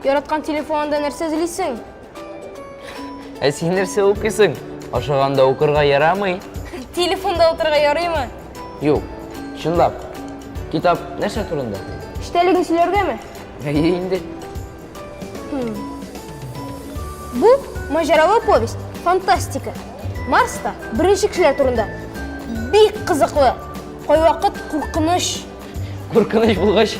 Яраткан телефонында нәрсә эзлисең? Ә син нәрсә укыйсың? Ашаганда укырга ярамый? Телефонда утырырга ярыймы? Юк, чынлап. Китап нәрсә турында? Эчтәлеген сөйләргәме? Әйе инде. Бу маҗаралы повесть, фантастика. Марста беренче кешеләр турында. Бик кызыклы. Кайвакыт куркыныч. Куркыныч булгач,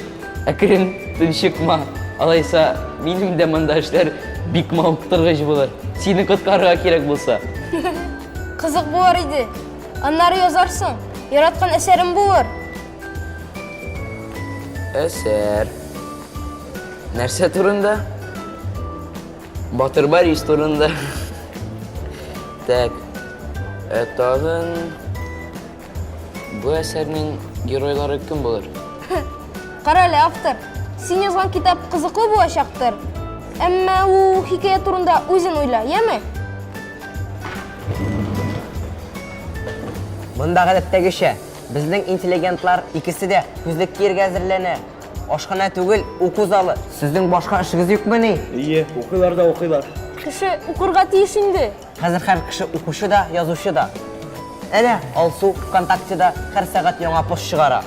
әкрен тынчыкма. Алайса, минем дә монда эшләр бик мавыктыргыч булыр. Сине коткарырга кирәк булса. Кызык булар иде. Аннары язарсың. Яраткан әсәрем булыр. Әсәр. Нәрсә турында? Батыр Борис турында. Так. Ә тагын бу әсәрнең геройлары кем булыр? Кара әле, автор. Син язган китап кызыклы булачактыр. Әмма ул хикәя турында үзен уйла, яме? Монда гадәттәгечә, безнең интеллигентлар икесе дә күзлек киергә әзерләнә. Ашханә түгел, уку залы. Сезнең башка эшегез юкмыни? Ие, укыйлар да укыйлар. Кеше укырга тиеш инде. Хәзер һәр кеше укучы да, язучы да. Әнә, Алсу ВКонтактеда һәр сәгать яңа пост чыгара.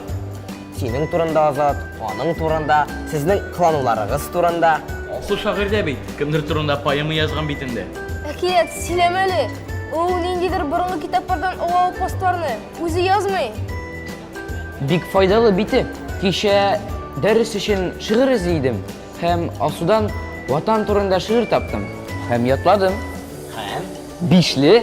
Синең турында, Азат, аның турында, сезнең кылануларыгыз турында. Алсу шагыйрь дә бит, кемдер турында поэма язган бит инде. Әкият, сөйләмә әле. Ул ниндидер борынгы китаплардан алган постларны. Үзе язмый. Бик файдалы бите. Кичә дәрес өчен шигырь эзли идем һәм Алсудан Ватан турында шигырь таптым һәм ятладым. Һәм бишле